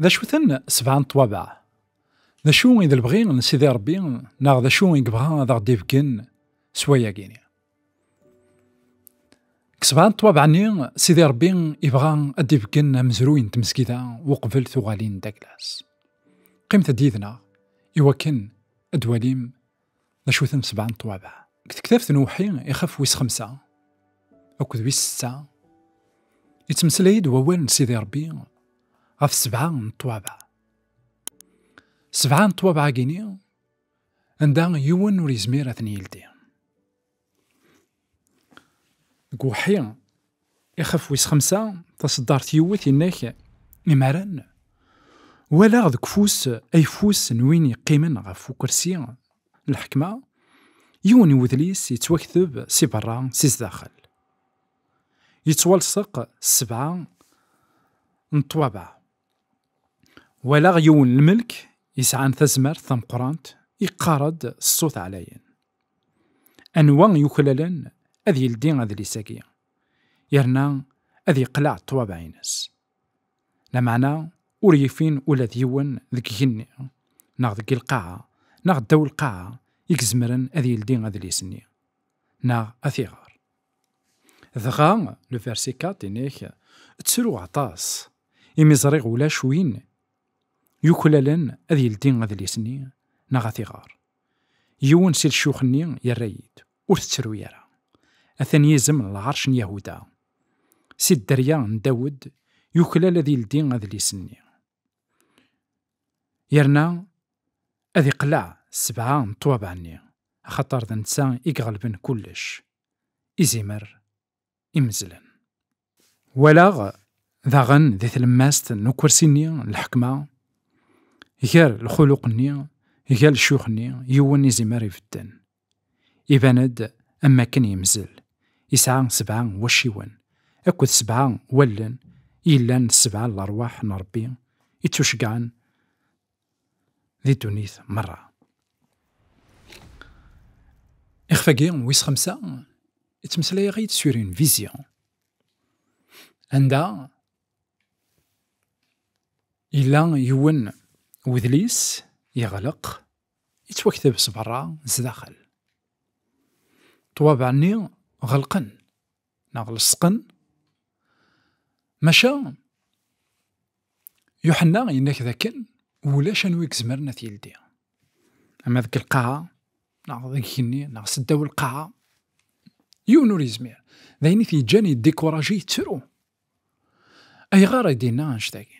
D acu-ten sebɛa n ṭwabaɛ? D acu i d lebɣi n Sidi Ṛebbi neɣ d acu i yebɣa ad aɣ-d-ibeggen s wayagi? Ksebɛa n ṭwabaɛ-nni, Sidi Ṛebbi ibɣa ad d-ibeggen amezruy n tmezgida uqbel tuɣalin d aglas. Qqimet-d yid-neɣ i wakken ad d-walim d acu-ten sebɛa n ṭwabaɛ. Deg tektabt n uwḥi ixef wis xemsa akked wis setta, yettmeslay-d wawal n Sidi Ṛebbi ɣef sebɛa n ṭwabaɛ. Sebɛa n ṭwabaɛ-agi-ni, Anda yiwen ur yezmir ad ten-yeldi. Deg uḥi, ixef wis xemsa, taseddart yiwet innak imaren, walaɣ deg ufus ayeffus n win yeqqimen ɣef ukersi n lḥekma, yiwen n wedlis yettwakteb si berra si sdaxel. Yettwalseq s sebɛa n ṭṭwabaɛ. Walaɣ yiwen n lmelk yesɛan tazmert tameqqrant yeqqar-d s ṣṣut ɛlayen, Anwa i yuklalen ad yeldi adlis-agi, yerna ad yeqleɛ ṭṭwabaɛ-ines? Lameɛna ur yefin ula d yiwen deg igenni, neɣ deg lqaɛa, neɣ ddaw lqaɛa i izemren ad yeldi adlis-nni, neɣ ad t-iɣer. Dɣa, le verset 4, inek, ttruɣ aṭas, imi ẓriɣ ulac win yuklalen ad yeldi adlis-nni neɣ ad t-iɣer. Yiwen si lcux-nni yerra-yi-d, ur tettru ara. Atan yizem n lɛerc n Yahuda. Si dderya n Dawed, yuklal ad yeldi adlis-nni. Yerna ad iqleɛ sebɛa n ṭṭwabaɛ-nni, axaṭer d netta i iɣelben kullec, izimer imezzlen. Walaɣ daɣen di tlemmast n ukersi-nni n lḥekma, gar lxuluq-nni, gar ccuyuxenni, yiwen izimer ibedden, Iban-d am wakken yemzel, yesɛa sebɛa n wacciwen akked sebɛa n wallen yellan d sebɛa n lerwaḥ n Ṛebbi i ttuceggɛen di ddunit merra. Ixef-agi wis xemsa yettmeslay-aɣ-id sur une vision anda yella yiwen wedlis yeɣleq Yettwakteb s berra d sdaxel. Ṭṭwabaɛ-nni ɣelqen neɣ leṣqen, maca Yuḥenna yenna-k dakken ulac anwa i izemren ad t-yeldi. Ama deg lqaɛa, neɣ deg igenni, neɣ s ddaw lqaɛa, yiwen ur yezmir. D ayen i t-yeǧǧan yeddikuraji yettru. Ayɣer i d-yenna annect-agi?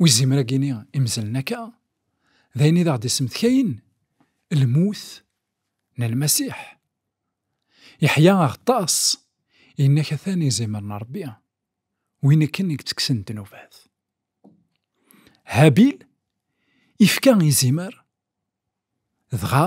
Ur izimir ad yini imezlen akka, d ayen i d aɣ-d-isemtkayen lmut n Lmasiḥ. Yeḥya aɣeṭṭas, yenna-k atan izimer n Rebbi, win akken i yettekksen ddnubat. Habil ifka izimer, dɣa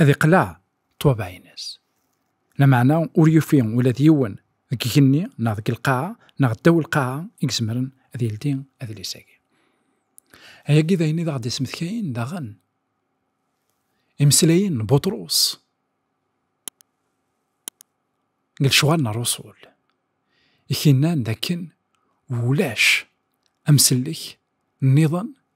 ad iqleɛ ṭṭwabaɛ-ines. Lameɛna ur yufi ula d yiwen deg igenni neɣ deg lqaɛa neɣ ddaw lqaɛa i izemren ad yeldi adlis-agi. Ayagi d ayen i d aɣ-d-ismedkayen daɣen imeslayen n Buṭrus deg lecɣal n Ṛṛusul, i k-innan d akken ulac amsellek nniḍen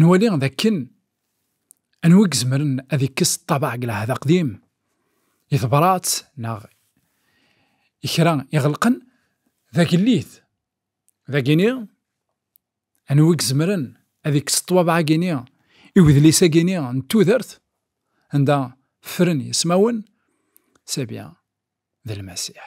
Nwali d akken anwa i izemren ad ikkes ṭṭabaɛ deg lɛehd aqdim, i tebṛat neɣ i kra iɣelqen, d agellid. Dagini, anwa i izemren ad ikkes ṭṭwabaɛ-agini i wedlis-agini n tudert anda fren yismawen? Sebya d Lmasiḥ.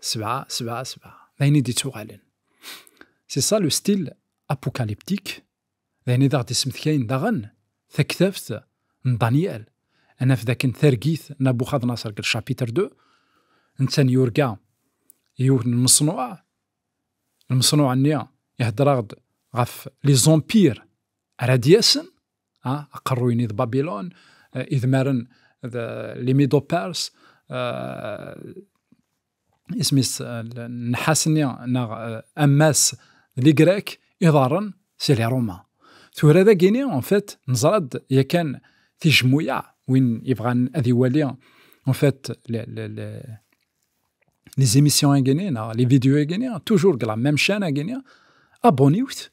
Sebɛa, sebɛa, sebɛa. D ayen i d-ittuɣalen. C'est ça le style apocalyptique. D ayen i d aɣ-d-issemtkayen daɣen taktabt n Daniel. Ad naf dakken targit n Abuxadnaṣer deg chapitre 2, netta yurga yiwen n lmeṣnuɛ. Lmeṣnuɛ-nni ihedder-aɣ-d ɣef les empires ara d-yasen, aqerruy-nni d Babilun, idmaren d limido pers isem-is nnḥas-nni neɣ ammas d ligrek iḍarren si li Roma. Tura d agini, en fait, neẓra-d yakan tijmuya win ibɣan ad iwali en fait les émissions agini neɣ les vidéos agini toujours la même chaîne agini abonniwt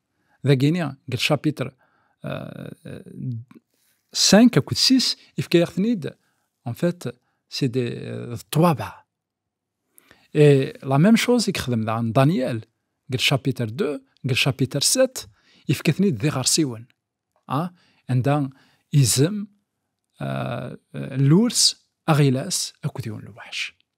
dagini deg lcapitr 5 akked 6 ifka-yaɣ-ten-id en fait c'est des euh, ṭṭwabeɛ et la même chose i yexdem daɣen Daniel deg lcapitr 2 deg lcapitr 7 ifka-ten-id d iɣersiwen ah anda izem euh, euh, lurs aɣilas akked yiwen lweḥc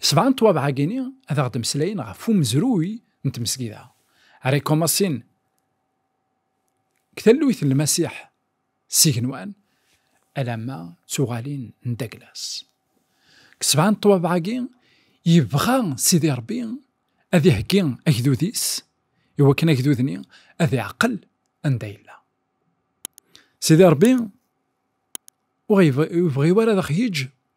Sebɛa n twabeɛ-agi-ni ad aɣ-d-mmeslayen ɣef umezruy n tmesgida, Rekomasin, deg talluit n Lmasiḥ s igenwan, alamma d tuɣalin n Daglas. Deg sebɛa n twabeɛ-agi, yebɣa Sidi Ṛebbi ad iheggi agdud-is i wakken agdud-nni ad iɛqel anda yella. Sidi Ṛebbi ur yebɣi ara ad aɣ-yeǧǧ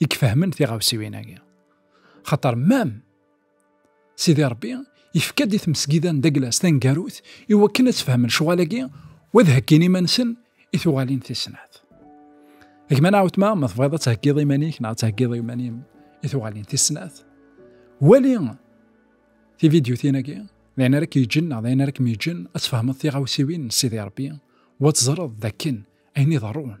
i ifehmen tiɣawsiwin-agi. Xaṭer mam Sidi Ṛebbi yefka-d i tmesgida n Daglas taneggarut i wakken ad sfehmen ccɣal-agi u ad hegin iman-nsen i tuɣalin tis snat. Gma neɣ wetma, ma tebɣiḍ ad theggiḍ iman-ik neɣ ad theggiḍ iman-im i tuɣalin tis snat, wali tividyutin-agi, d ayen ara k-yeǧǧen neɣ d ayen ara kem-yeǧǧen ad tfehmeḍ tiɣawsiwin n Sidi Ṛebbi u ad teẓreḍ d akken ayen iḍerrun